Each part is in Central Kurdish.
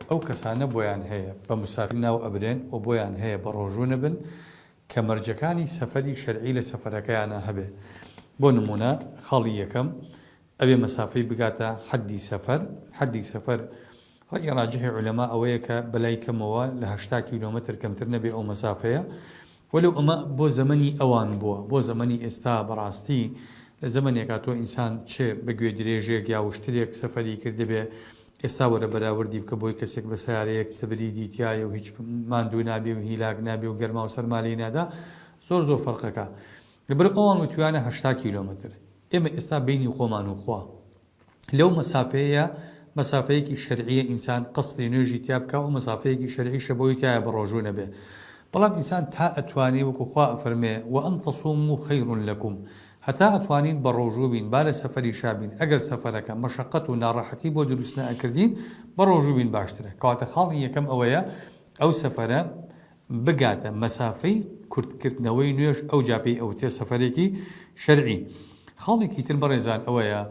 ئەو کەسانە بۆیان هەیە بە مسافر ناو ئەبرێن و بۆیان هەیە بەڕۆژوو نەبن کە مەرجەکانی سەفەری شەرعی لە سەفەرەکەیانا هەبێ بۆ نموونە خاڵی یەکەم ئەبێ مەسافەی بگاتە حەدی سەفەر حەدی سەفەر ڕەئی ڕاجحی عولەما ئەوەیە کە بەلای کەمەوە لە هەشتا کیلۆمەتر کەمتر نەبێ ئەو مەسافەیە وەلو ئەمە بۆ زەمەنی ئەوان بووە بۆ زەمەنی ئێستا بەڕاستی لە زەمەنێکا تۆ ئینسان چ بە گوێ درێژێک یا وشترێک سەفەری کردبێ ئێستا وەرە بەراوردی بکە بۆی کەسێک بە سەیارەیەک تبریدی تیایە و هیچ ماندوو نابێ و هیلاک نابێ و گەرما و سەرما لێی نادا زۆر زۆر فەرقەکا لەبەرو ئەوان وتویانە هەشتا کیلۆمەتر ئێمە ئێستا بەینی خۆمان و خوا لەو مەسافەیەیە مەسافەیەکی شەرعیە ئینسان قەسری نوێژی تیا بکا و مەسافەیەکی شەرعیشە بۆی تایە بەڕۆژوو نەبێ بەڵام ئینسان تا ئەتوانێ وەکو خوا ئەفەرمێ وان تصوموا خیر لکم هەتا ئەتوانین بەڕۆژوو بین با لە سەفەریشا بین ئەگەر سەفەرەکە مەشەقەت و ناڕەحەتی بۆ دروست نەئەکردین بەڕۆژوو بین باشترە کەواتە خاڵی یەکەم ئەوەیە ئەو سەفەرە بگاتە مەسافەی کورتکردنەوەی نوێژ ئەوجا پێی ئەوترێ سەفەرێکی شەرعی. خاڵێکی تر بەڕێزان ئەوەیە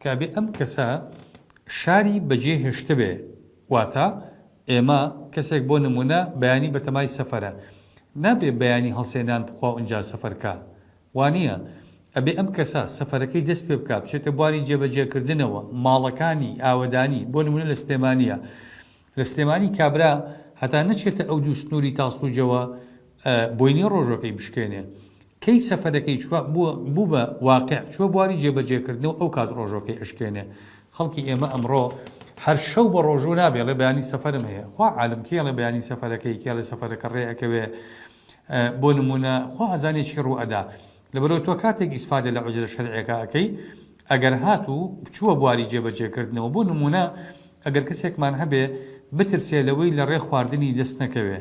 کە ئەبێ ئەم کەسە شاری بەجێ هێشتبێ واتە ئێمە کەسێک بۆ نموونە بەیانی بەتەمای سەفەرە نابێ بەیانی هەڵسێ نان بخوا و ئینجا سەفەر کا وانیە ئەبێ ئەم کەسە سەفەرەکەی دەست پێ بکا بچێتە بواری جێبەجێکردنەوە ماڵەکانی ئاوەدانی بۆ نموونە لە سلێمانیە لە سلێمانی کابرا هەتا نەچێتە ئەو دوو سنووری تاسڵوجەوە بۆی نیە ڕۆژەکەی بشکێنێ. کەی سەفەرەکەی چووە بوو بە واقع چووە بواری جێبەجێکردنەوە ئەو کات ڕۆژەکەی ئەشکێنێ. خەڵکی ئێمە ئەمڕۆ هەر شەو بە ڕۆژوو نابێ ئەڵێ بەیانی سەفەرم هەیە. خوا عالم کێ ئەڵێ بەیانی سەفەرەکەی کێ ئەڵێ سەفەرەکە ڕێ ئەکەوێ. بۆ نموونە خوا ئەزانێ چی ڕوو ئەدا. لەبەرئەوەی تۆ کاتێک ئیسفادە لە ئوجرە شەرعیەکە ئەکەی ئەگەر هات و چووە بواری جێ بەجێ کردنەوە بۆ نموونە ئەگەر کەسێکمان هەبێ بترسێ لەوەی لە ڕێ خواردنی دەست نەکەوێ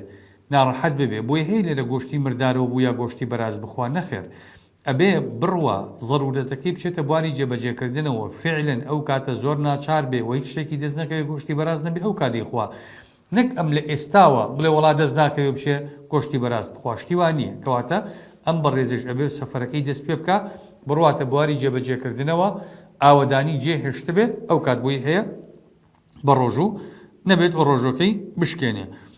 ناڕەحەت ببێ بۆیە هەیە لێرە گۆشتی مردارەوە بوو یا گۆشتی بەراز بخوا نەخێر ئەبێ بڕوا زەرورەتەکەی بچێتە بواری جێ بەجێ کردنەوە فعلەن ئەو کاتە زۆر ناچار بێ و هیچ شتێکی دەست نەکەوێ گۆشتی بەراز نەبێ ئەو کات دەیخوا نەک ئەم لە ئێستاوە بڵێ وەڵا دەست ناکەوێ بچێ گۆشتی بەراز بخوا شتی وا نییە کەواتە ئەم بەڕێزەش ئەبێ سەفەرەکەی دەست پێ بکا بڕواتە بواری جێبەجێکردنەوە ئاوەدانی جێ هێشتبێ ئەو کات بۆی هەیە بە ڕۆژوو نەبێت و ڕۆژوەکەی بشکێنێ.